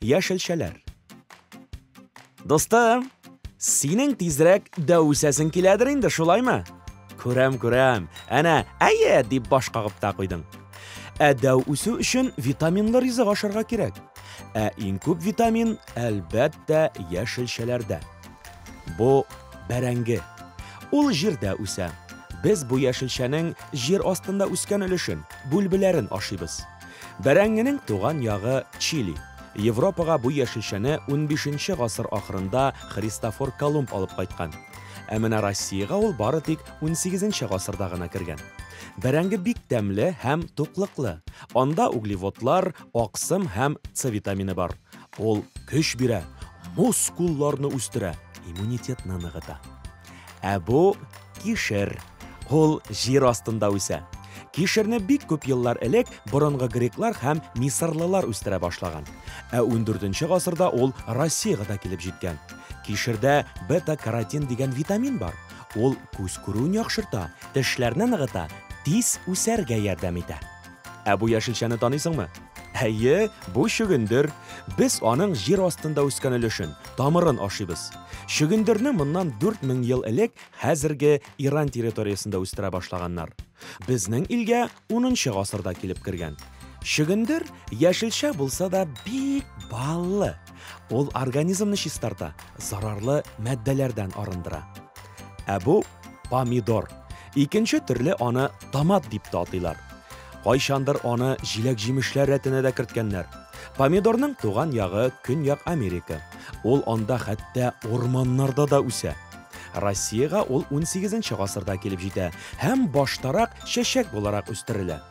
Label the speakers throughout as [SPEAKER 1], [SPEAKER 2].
[SPEAKER 1] Яшелчәләр. Достым, синең тизрәк дәү үсәсең киләдер инде, шулаймы? Күрәм, күрәм. Әнә, әйе, дип баш кагып та куйдың. Ә дәү үсү өчен витаминлы ризык ашарга кирәк. Ә иң күп витамин, әлбәттә, яшелчәләрдә. Бу бәрәңге. Ул җирдә үсә. Без бу яшелчәнең җир астында үскән өлешен, бүлбеләрен ашыйбыз. Бәрәңгенең туган ягы Чили. Европага бу яшелчәне 15 нче гасыр ахырында Христофор Колумб алып кайткан. Ә менә Россиягә ул бары тик 18 гасырда гына кергән. Бәрәңге бик тәмле һәм туклыклы. Анда углеводлар, аксым һәм С витамины бар. Ул көч бирә, мускулларны үстерә, иммунитетны ныгыта. Ә бу кишер. Ул җир астында үсә. Кишерне бик күп еллар элек борынгы греклар һәм мисырлылар үстерә башлаган. Ә 14 гасырда ул Россиягә дә килеп җиткән. Кишердә бета-каротин дигән витамин бар. Ул күз күрүен яхшырта, тешләрне ныгыта, тиз үсәргә ярдәм итә. Ә бу яшелчәне таныйсыңмы? Әйе, бу чөгендер. Без аның җир астында үскән өлешен, тамырын ашыйбыз. Чөгендерне моннан 4000 ел элек хәзерге Иран территориясендә үстерә башлаганнар. Безнең илгә 10 гасырда килеп кергән. Чөгендер яшелчә булса да бик баллы. Ул организмны чистарта, зарарлы матдәләрдән арындыра. Ә бу помидор. Икенче төрле аны томат дип тә атыйлар. Кайчандыр аны җиләк-җимешләр рәтенә дә керткәннәр. Помидорның туган ягы Көньяк Америка. Ул анда хәтта урманнарда да үсә. Россиягә ул 18 гасырда килеп җитә һәм баштарак чәчәк буларак үстерелә.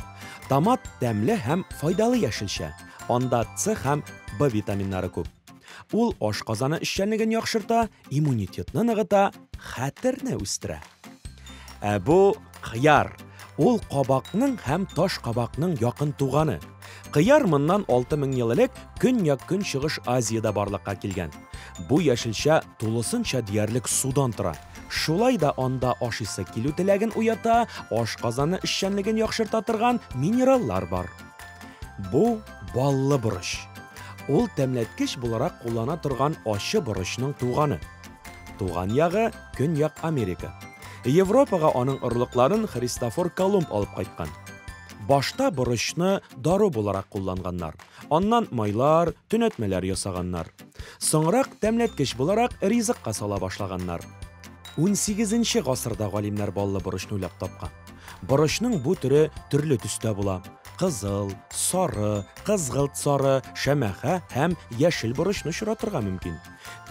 [SPEAKER 1] Томат тәмле һәм файдалы яшелчә. Анда С һәм В витаминнары күп. Ул ашказаны эшчәнлеген яхшырта, иммунитетны ныгыта, хәтерне үстерә. Ә бу кыяр. Ул кабакның һәм таш кабакның якын туганы. Кыяр моннан 6000 ел элек Көньяк Көнчыгыш Азиядә барлыкка килгән. Бу яшелчә тулысынча диярлек судан тора. Шулай да анда ашыйсы килү теләген уята, ашказаны эшчәнлеген яхшырта торган минераллар бар. Бу баллы борыч. Ул тәмләткеч буларак куллана торган ачы борычның туганы. Туган ягы, Көньяк Америка. Европага аның орлыкларын Христофор Колумб алып кайткан. Башта борычны дару буларак кулланганнар, аннан майлар, төнәтмәләр ясаганнар. Соңрак тәмләткеч буларак ризыкка сала башлаганнар. Унсигезенче гасырда галимнәр баллы борычны уйлап тапкан. Борычның бу төре төрле төстә була, кызыл, сары, кызгылт сары, шәмәхә һәм яшел борычны очратырга мөмкин.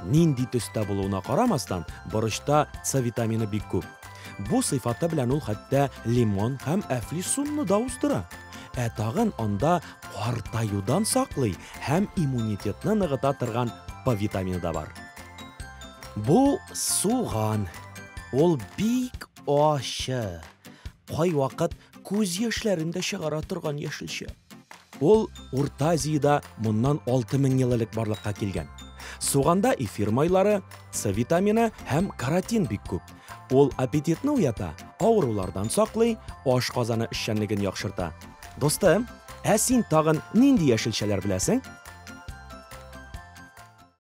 [SPEAKER 1] Нинди төстә булуына карамастан, борычта С витамины бик күп. Бу сыйфаты белән ул хәтта лимон һәм әфлисунны да уздыра. Ә тагын анда картаюдан саклый һәм иммунитетны ныгыта торган П витамины да бар. Бу суган. Ул бик Ачы, кайвакыт күз яшьләрен дә чыгара торган яшелчә. Ул Урта Азиядә моннан 6000 ел элек барлыкка килгән. Суганда эфир майлары, С витамины һәм каротин бик күп. Ул аппетитны уята, авырулардан саклый, аш казаны эшчәнлеген яхшырта. Дустым, ә син тагын нинди яшелчәләр беләсең?